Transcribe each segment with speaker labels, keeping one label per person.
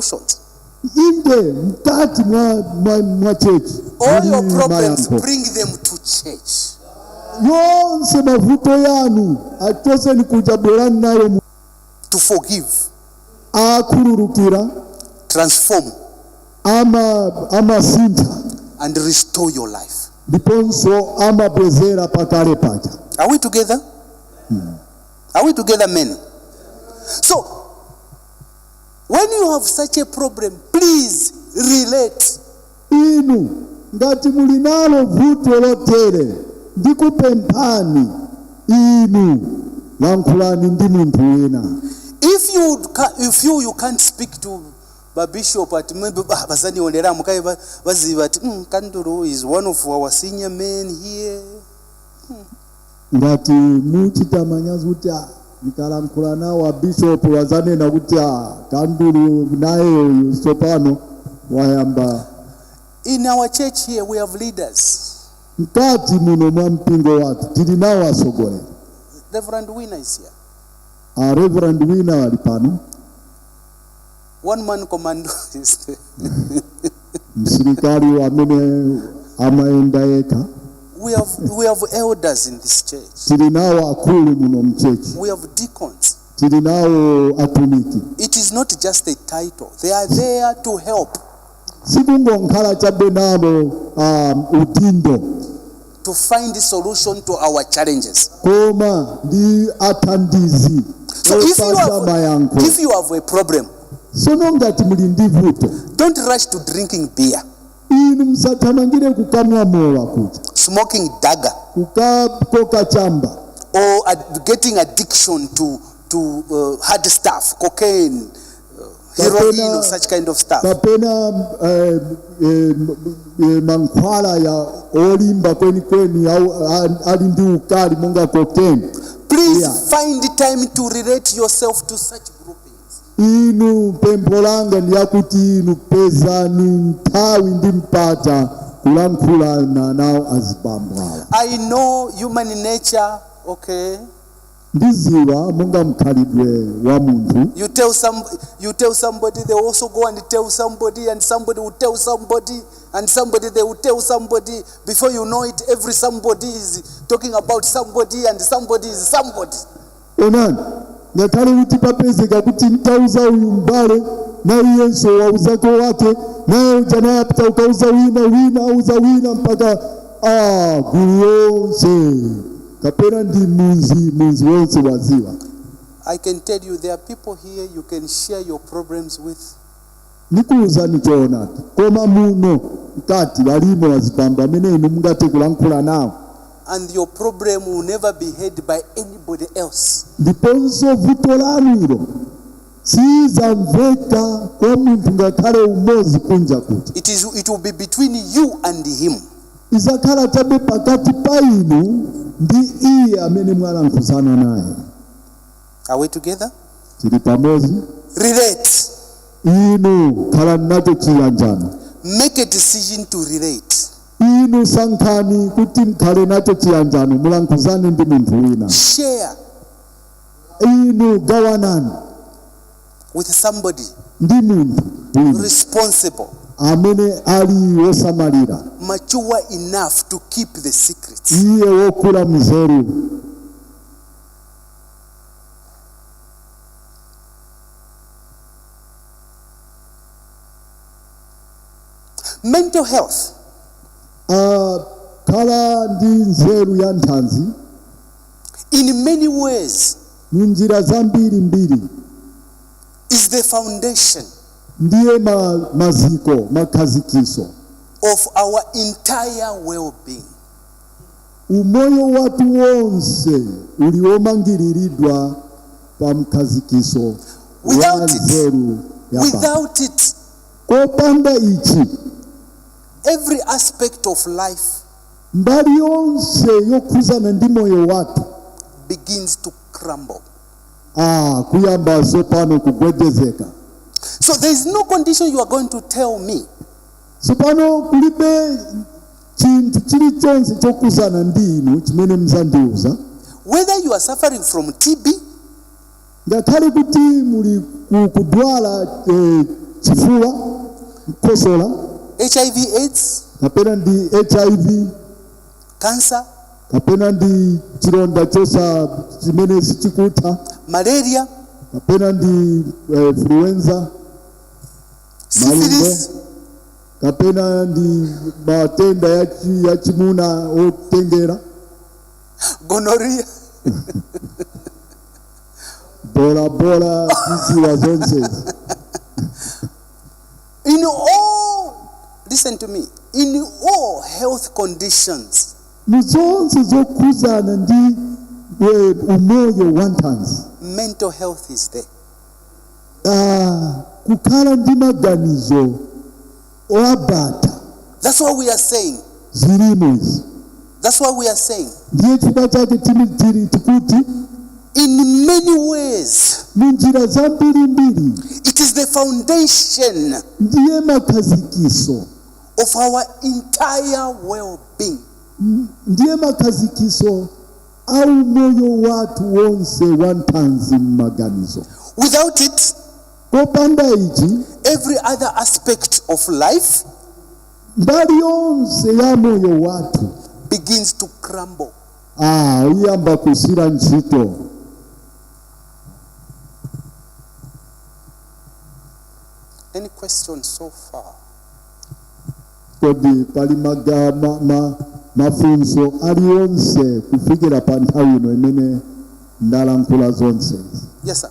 Speaker 1: solutions. inde mkati mwa, mwa, mwa chechi All your muli problems, mayankho bring them to church. yonse mavuto yanu achoseni kuja bwerani nayo mu- To forgive, akhululukira transform, ama amasintha and restore your life. ndiponso amabwezera pakale paja Are we together? Are we together, men? So When you have such a problem, please relate. inu ngati muli nalo vuto lotere ndikupemphani inu lankhulani ndi munthu wina If you ca- if you you can't speak to the bishop at maybe ah, bazanionera mukaye ba- baziva ati mm, Kandulu is one of our senior men here. ngati muchita manyazi kuti "Ah, ndikalankhula nawo abishopu azanena kuti "Ah, kandulu nayeyo tsopano wayamba In our church here, we have leaders. mkati muno mwa mpingo wathu tili nawo atsogoleri Reverend Winner is here. a reverend wina ali pano One man commando is there. msilikali amene amayenda yekha We have, we have elders in this church. tili nawo akulu muno mchechi We have deacons. tili nawo atumiki It is not just a title. They are there to help. sikungonkhala chabe nalo um, udindo to find solution to our challenges. koma ndi athandizi So if you, opatsa have, mayankho if you have a problem, sono ngati muli ndi vuto don't rush to drinking beer, inu musathamangire kukamwa mowa kuti smoking dagga, kukakoka chamba or ad- getting addiction to, to uh, hard stuff, cocaine, heroin or such kind of stuff. kapena eh, eh, eh, mankhwala ya olimba kwenikweni au a- ali ndi ukali monga cocaine Please Yeah. find the time to relate yourself to such groupings. inu pempho langa ndi lakuti inu pezani nthawi ndi mpata kulankhulana nawo azibambo awa I know human nature, okay? Ndiziwa monga mkhalidwe wa munthu. You tell some, you tell somebody, they also go and tell somebody, and somebody will tell somebody, and somebody they will tell somebody. Before you know it, every somebody is talking about somebody, and somebody is somebody. Onani, ngakhale kuti papezeka kuti mutauza uyu mbale naye iyenso wauzako wake naye uja naye apita kukauza wina wina auza wina mpaka ah, gulu yonse kapena ndi munzi munzi wonse waziwa I can tell you there are people here you can share your problems with. nikuwuzani choonadi koma muno mkati walimo wazibambo amene inu mungathe kulankhula nawo And your problem will never be heard by anybody else. ndiponso vuto lanu ilo sizamveka kwa munthu ngakhale umodzi kunja kuja It, is, it will be between you and him. Idzakhala chabe pakati pa inu ndi iye amene mwalankhuzana naye. Are we together? Tili pamodzi? Relate. Inu khalani nacho chiyanjano. Make a decision to relate. Inu sankhani kuti mkhale nacho chiyanjano, mulankhuzane ndi munthu wina. Share. Inu gawanani. with somebody ndi munthu wina responsible, amene ali wosamalira mature enough to keep the secrets. iye wokula mzeru Mental health, akhala ndi nzeru ya nthanzi in many ways mu njira zambiri mbiri is the foundation ndiye ma, maziko makhazikiso of our entire well being. umoyo wathu wonse uli womangiriridwa pa mkhazikiso wa Without it- nzeru ya Baba. Without it, kopanda ichi every aspect of life mbali yonse yokhuzana ndi moyo wathu begins to crumble. ah, kuyamba zopano kugwedezeka So there is no condition you are going to tell me tsopano kulibe chinthu chilichonse chokhuzana ndi inu chimene mzandiuza whether you are suffering from TB, Ngakhale kuti muli ku kudwala eh, chifuwa, mkhosola, hiv aids kapena ndi HIV, cancer kapena ndi chilonda chosa chimene sichikutha, malaria kapena ndi eh, influenza, syphilis kapena ndi matenda ya chi- ya chimuna okutengera, gonorrhea bola bola tiziwa zonse in all listen to me in all health conditions mu zonse zokhuzana ndi eh, umoyo wa nthanzi mental health is there Ah, kukhala ndi maganizo Oabata. That's why we are saying. Zilimo izi. That's why we are saying. Ndiye chifukwa chake tili tikuti in many ways munjira zambirimbiri it is the foundation ndiye makhazikiso of our entire well-being ndiye makhazikiso a umoyo wathu wonse wa thanzi m'maganizo without it popanda ichi every other aspect of life mbali yonse ya moyo wathu begins to crumble. ah, iyamba kusiya ntchito Any questions so far? kodi pali maga, ma, ma, mafunso aliyonse kufikira pa nthawi ino mmene ndalankhula zonse Yes, sir.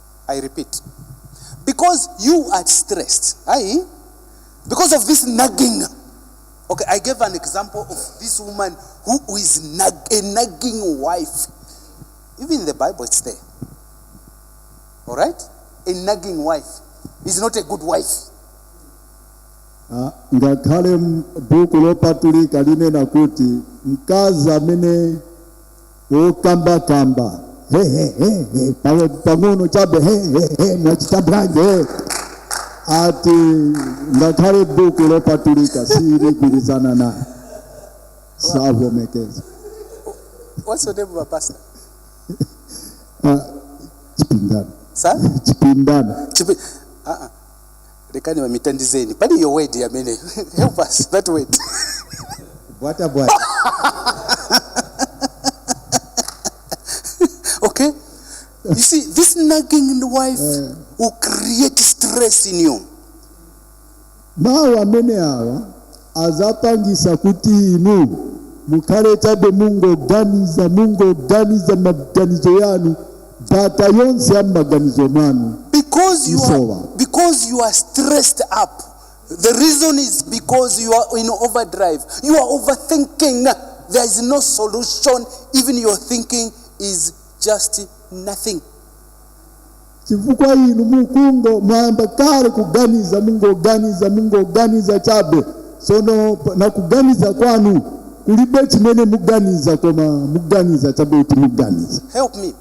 Speaker 1: I repeat, because you are stressed, aye, because of this nagging. Okay, I gave an example of this woman who who is nag, a nagging wife. Even in the Bible, it's there. All right? A nagging wife is not a good wife. Ah, ngakhale m- buku lopatulika linena kuti mkazi amene okambakamba hehehehe pang'o- pang'ono chabe hehehe mwachita bwanji he. ati ngakhale buku lopatulika siligwirizana naye savomekeza What's your name, my pastor? chipindano Sir? chipindano Chipi- uh-uh. lekani mami tandizeni pali iyo word yamene help us that word bwata bwata okay you see this nagging in the wife will create stress in you mawu amene awa azapangisa kuti inu mukhale chabe mungoganiza mungoganiza maganizo yanu data yonse ya m'maganizo mwanu Because you Yes, are, Lord. because you are stressed up. The reason is because you are in overdrive. You are overthinking. There is no solution. Even your thinking is just nothing. chifukwa inu mungo mwayamba kale kuganiza mungoganiza mungoganiza chabe Tsono pa- na kuganiza kwanu kulibe chimene muganiza koma muganiza chabe muganiza Help me.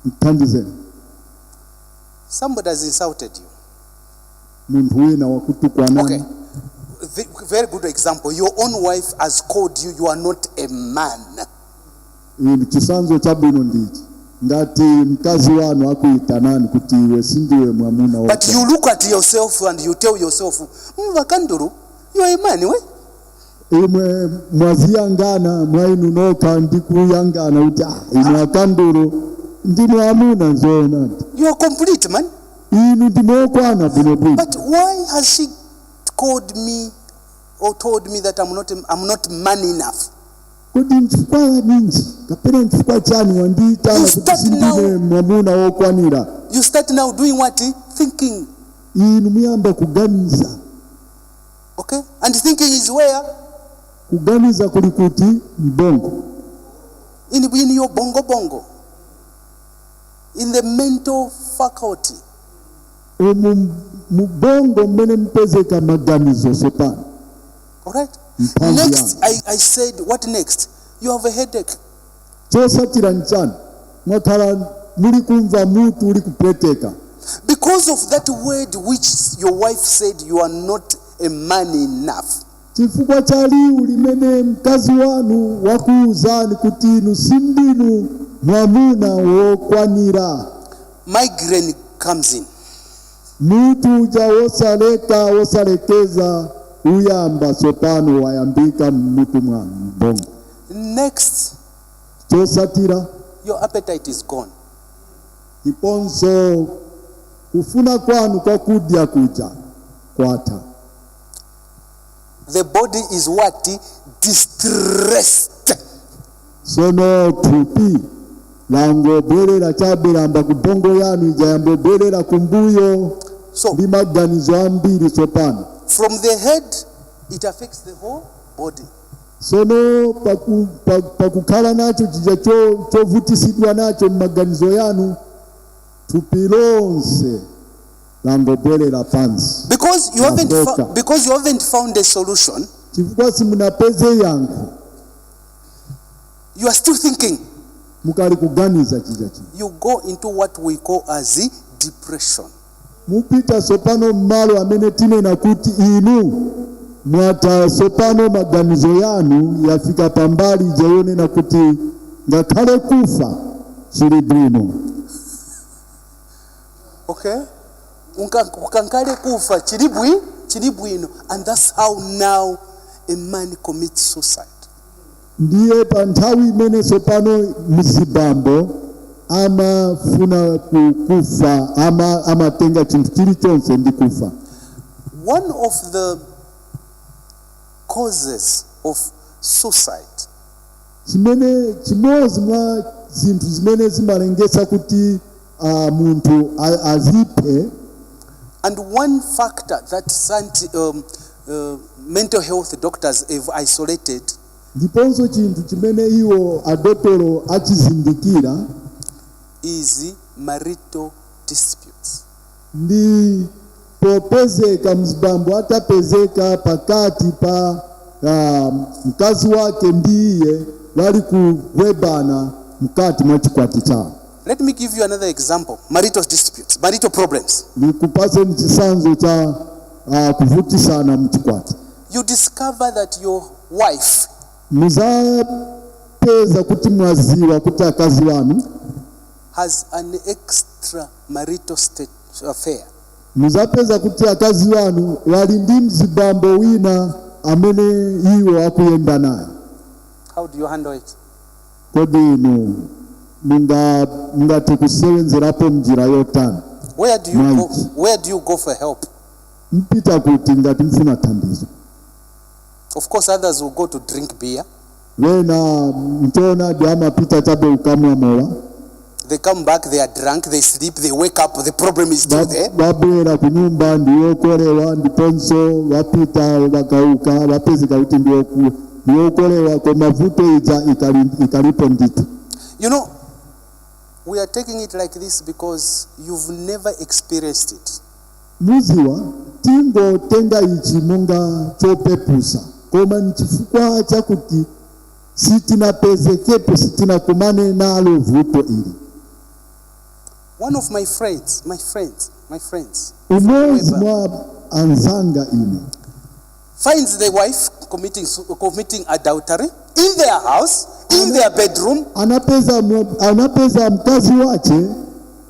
Speaker 1: mthandizeni Somebody has insulted you. munthu wina wakutukwanani Okay. The, very good example. Your own wife has called you, you are not a man. Inu chitsanzo chabwino ndichi ngati mkazi wanu akuyitanani kuti iwe sindiwe mwamuna wa But you look at yourself and you tell yourself, mm, a Kandulu, you are a man, we? imwe mwaziyangana mwa inu nokha ndi kuyangana kuti ah, inu a Kandulu ndinu amuna zoona You are complete, man. inu ndinu okwana bwinobwino But why has she called me or told me that I'm not, I'm not man enough? Kodi nchifukwa ninji kapena nchifukwa chani wandiitana You kuti start sindine now. mwamuna wokwanira? You start now doing what? Thinking. Inu muyamba kuganiza. Okay? And thinking is where? Kuganiza kuli kuti m'bongo. In, in your bongo bongo. In the mental faculty. Umu m'bongo mmene mupezeka maganizo tsopano. Alright? Next, I, I said, what next? You have a headache. chosatira nchani mwakhala muli kumva mutu uli kupweteka Because of that word which your wife said, you are not a man enough. chifukwa cha liwu limene mkazi wanu wakuuzani kuti inu sindinu mwamuna wokwanira Migraine comes in. Mutu uja wosaleka, wosalekeza uyamba tsopano, wayambika mutu wa bongo. Next, Chosatira your appetite is gone. ndiponso kufuna kwanu kwa kudya kuja kwatha. The body is what? Distressed. sono thupi langobwerera chabe yamba ku bongo yanu ija yamba bwerera kumbuyo So- ndi maganizo ambiri tsopano From the head, it affects the whole body. sono paku- pa- pakukhala nacho chija cho- chovutisidwa nacho m'maganizo yanu thupi lonse langobwerera pansi Because you haven't fou- because you haven't found a solution, chifukwa simunapeze yankho you are still thinking mukali kuganiza chija chija you go into what we call as depression mupita sopano mmalo amene tinena kuti inu mwataya sopano maganizo yanu yafika pambali ija yonena kuti ngakhale kufa chili bwino okay nga- ngakhale kufa chili bwi chili bwino and that's how now a man commits suicide ndiye pa nthawi imene tsopano azibambo amafuna ku- kufa ama, amatenga chinthu chilichonse ndi kufa one of the causes of suicide chimene chimodzi mwa zinthu zimene zimalengesa kuti ah, munthu a- aziphe And one factor that scienti- um, uh, mental health doctors have isolated ndiponso chinthu chimene iwo adotolo achizindikira is marital disputes. ndi popezeka mzibambo atapezeka pakati pa ah, mkazi wake ndi iye wali kuwebana mkati mwa chikwati chawo Let me give you another example marital disputes, marital problems. ndikupaseni chisanzo cha ah, kuvutisana mchikwati You discover that your wife muzapeza kuti mwaziwa kuti akazi wanu has an extramarital state affair. Muzapeza kuti akazi wanu wali ndi mzibambo wina amene iwo akuyenda naye. How do you handle it? Kodi inu mungathe kusewenzerapo mnjira yotani? Where do you go, where do you go for help? Mpita kuti ngati mfuna thandizo. Of course others will go to drink beer. Wena mchoonadi amapita chabe ukamwa mowa. They come back, they are drunk, they sleep, they wake up, the problem is still there. Wabwera kunyumba ndi wokolewa ndiponso wapita wakauka wapezeka kuti ndi woku- ndi wokolewa koma vuto ija ikali- ikalipo ndithu. You know, we are taking it like this because you've never experienced it. Mudziwa, tingotenga ichi monga chopepusa, koma n'chifukwa chakuti sitinapezekepo, sitinakumane nalo vuto ili. One of my friends, my friends, my friends, Umodzi mwa anzanga ine finds the wife committing, su- committing adultery in their house, in their bedroom, anapeza, mu- anapeza mkazi wache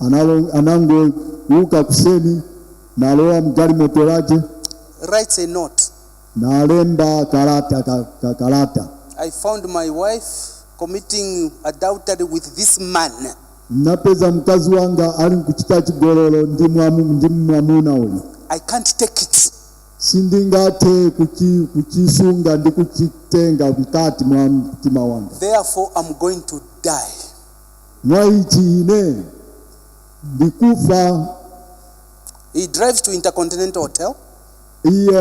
Speaker 1: Analo, anangouka kuseni nalowa mgalimoto lace writes a note. nalemba kalata ka, ka kalata I found my wife committing adultery with this man. napeza mkazi wanga ali nkuchita chigololo ndi mwamu- ndi mwamuna uyu I can't take it. sindingathe kuchi- kuchisunga ndi kuchitenga mkati mwa mtima wanga Therefore, I'm going to die. Mwa ichi ine ndikufa. He drives to Intercontinental Hotel. Iye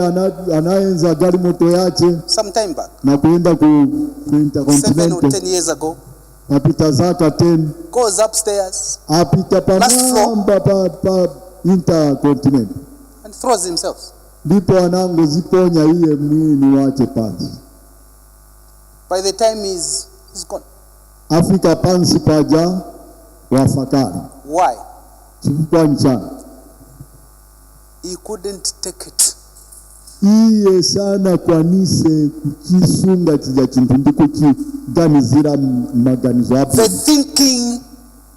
Speaker 1: anayenza galimoto yace some time back na kuyenda ku, ku Intercontinental 7 or 10 years ago papita zaka 10 goes upstairs apita pamwamba pa, pa Intercontinental and throws himself ndipo anangoziponya iye mwini wace pansi by the time he's, he's gone afika pansi paja wafa kale Why? chifukwa nchani He couldn't take it. iye sanakwanise kuchisunga chija chinthu ndi kuchiganizira m- maganizo The abwino thinking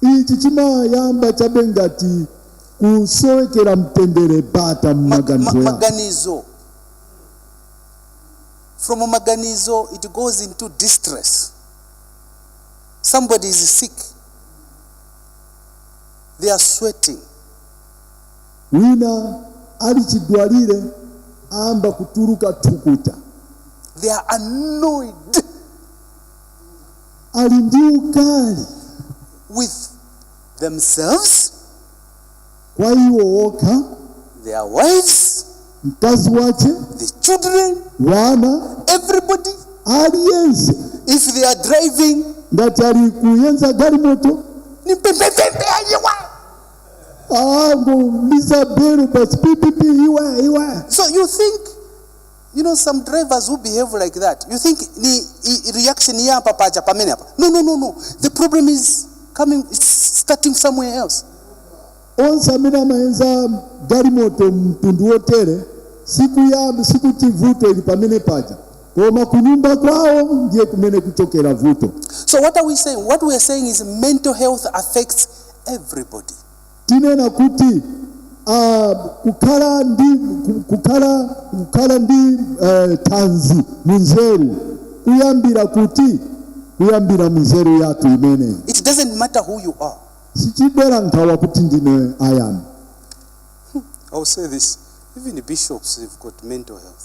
Speaker 1: Ichi chimayamba chabe ngati kusowekera mtendere bata Mag- ma- mmaganizo maganizo from maganizo it goes into distress somebody is sick they are sweating wina ali chidwalile ayamba kutuluka thukuta they are annoyed ali ndi ukali with themselves, kwa iwo okha their wives, mkazi wace the children, wana everybody. aliyense If they are driving, ngati ali kuyenza galimoto ni pembepembe ayiwa. angoliza belo basi pipipi iwe iwe So you think You know some drivers who behave like that. You think ni reaction yayamba paja pamene apa. No no no no. The problem is coming it's starting somewhere else. onse amene amayenza galimoto mtundu wotere sikuyamba sikuti vuto ili pamene paja koma kunyumba kwawo ndiye kumene kuchokera vuto So what are we saying? What we are saying is mental health affects everybody. Tinena kuti uh, kukhala ndi kukhala kukhala ndi uh, thanzi munzeru kuyambira kuti kuyambira munzeru yathu imene it doesn't matter who you are sichidera nkhawa kuti ndine ayani hmm, i'll say this even bishops have got mental health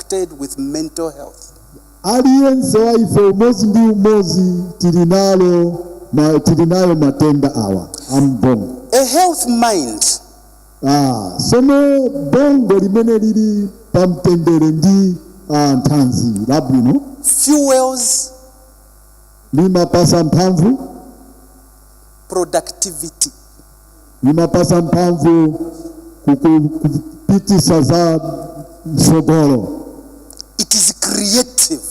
Speaker 1: affected with mental health. aliyense wa ife umodzi ndi umodzi tili nalo ma, tili nayo matenda awa ambongo A health mind ah, sono bongo limene lili pa mtendere ndi ah, thanzi labwino fuels limapasa mphamvu productivity. imapasa mphamvu kuku- kupitisa za mtsogolo It is creative.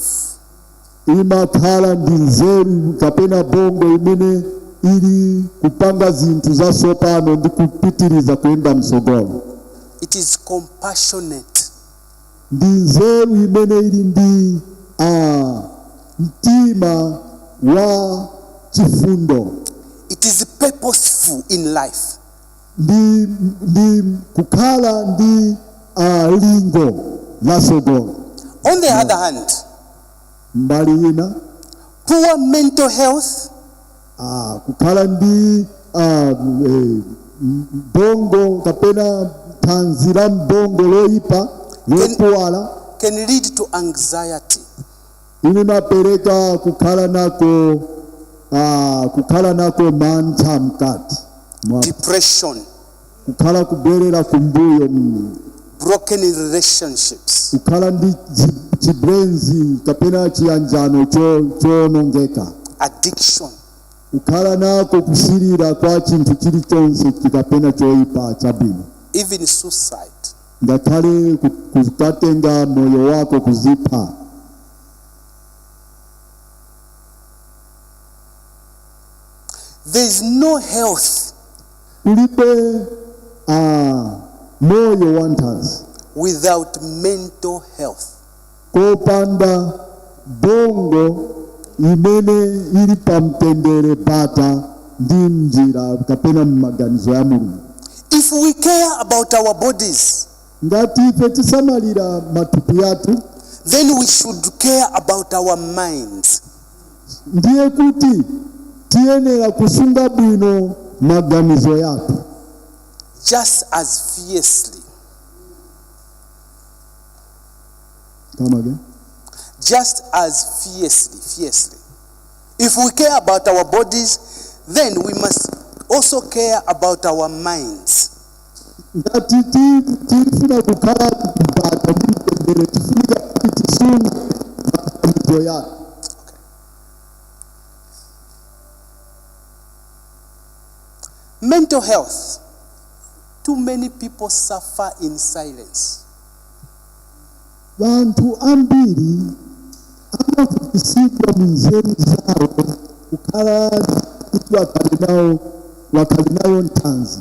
Speaker 1: imakhala ndi nzeru kapena bongo imene ili kupanga zinthu zatsopano ndi kupitiriza kuyenda mtsogolo It is compassionate. ndi nzeru imene ili ndi a mtima wa chifundo It is purposeful in life. ndi, ndi kukhala ndi a lingo la tsogolo On the other hand, mbali ina poor mental health Ah, kukhala ndi ah, eh, bongo kapena thanzi la bongo loyipa lopuwala can lead to anxiety. limapereka kukhala nako ah, kukhala nako mantha mkati mwa depression, kukhala kubwerera kumbuyo mm, broken relationships, kukhala ndi chi- chibwenzi kapena chiyanjano cho- choonongeka addiction, kukhala nako kusilira kwa chinthu chilichonse kapena choyipa chabwino, even suicide. ngakhale ku- kukatenga moyo wako kuzipha There is no health kulibe ah, moyo wanthanzi without mental health. kopanda bongo imene ili pamtendere, bata ndi njira kapena m'maganizo ya mulungu If we care about our bodies, ngati ife tisamalira matupi athu then we should care about our minds. ndiye kuti tiyenera kusunga bwino maganizo yathu just as fiercely, Come again. just as fiercely, fiercely. If we care about our bodies, then we must also care about our minds. ngati tili tifuna kukhala m'bata ndi mtendere tifunika kuti tisunge makhalidwe yake Mental health. Too many people suffer in silence. wanthu ambiri amavutitsidwa mu nzeru zawo kukhala kuti wakhale nawo wakhale nayo nthanzi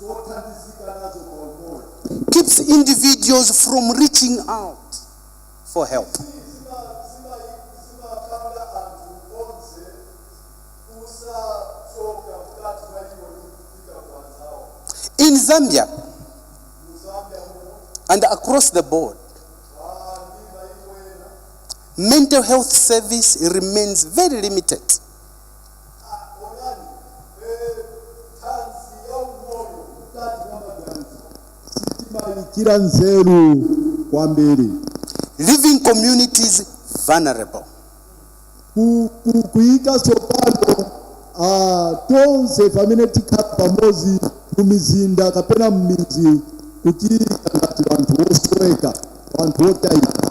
Speaker 1: zothandizika nazo pa umoyo keeps individuals from reaching out for help. zimapanga anthu onse kusachoka mkati mwa iwo ndi kupita kwa anzawo In Zambia mu Zambia muno and across the board, ndi maiko ena mental health service remains very limited. onani eh, thanzi ya umoyo mkati mwa maganizo sitimayikirako nzeru kwambiri Leaving communities vulnerable. Ku- ku- kuyika tsopano ah, tonse pamene tikhala pamodzi mu mizinda kapena m'midzi kuti ngati wanthu wosoweka wanthu wotayika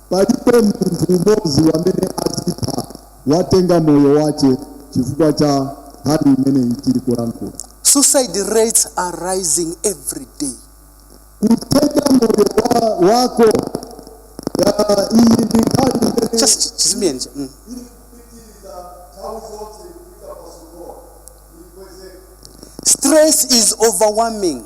Speaker 1: Paliponse munthu umodzi wamene azipha watenga moyo wache chifukwa cha nkhani imeneyi tili kulankhula. Suicide rates are rising every day. Kutenga moyo wa, wako ya, iyi ndi nkhani imene Just chizimiyeni cha. Mm. Stress is overwhelming.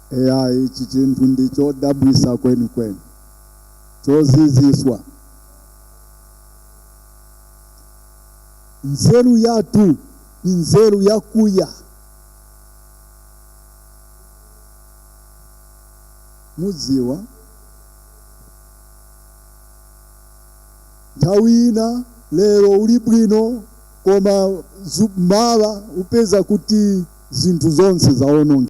Speaker 1: Eya, ichi chinthu ndi chodabwisa kwenikweni, choziziswa. Nzeru yathu ni nzeru yakuya. Mudziwa nthawi ina lero uli bwino, koma za mawa upeza kuti zinthu zonse zawonongeka.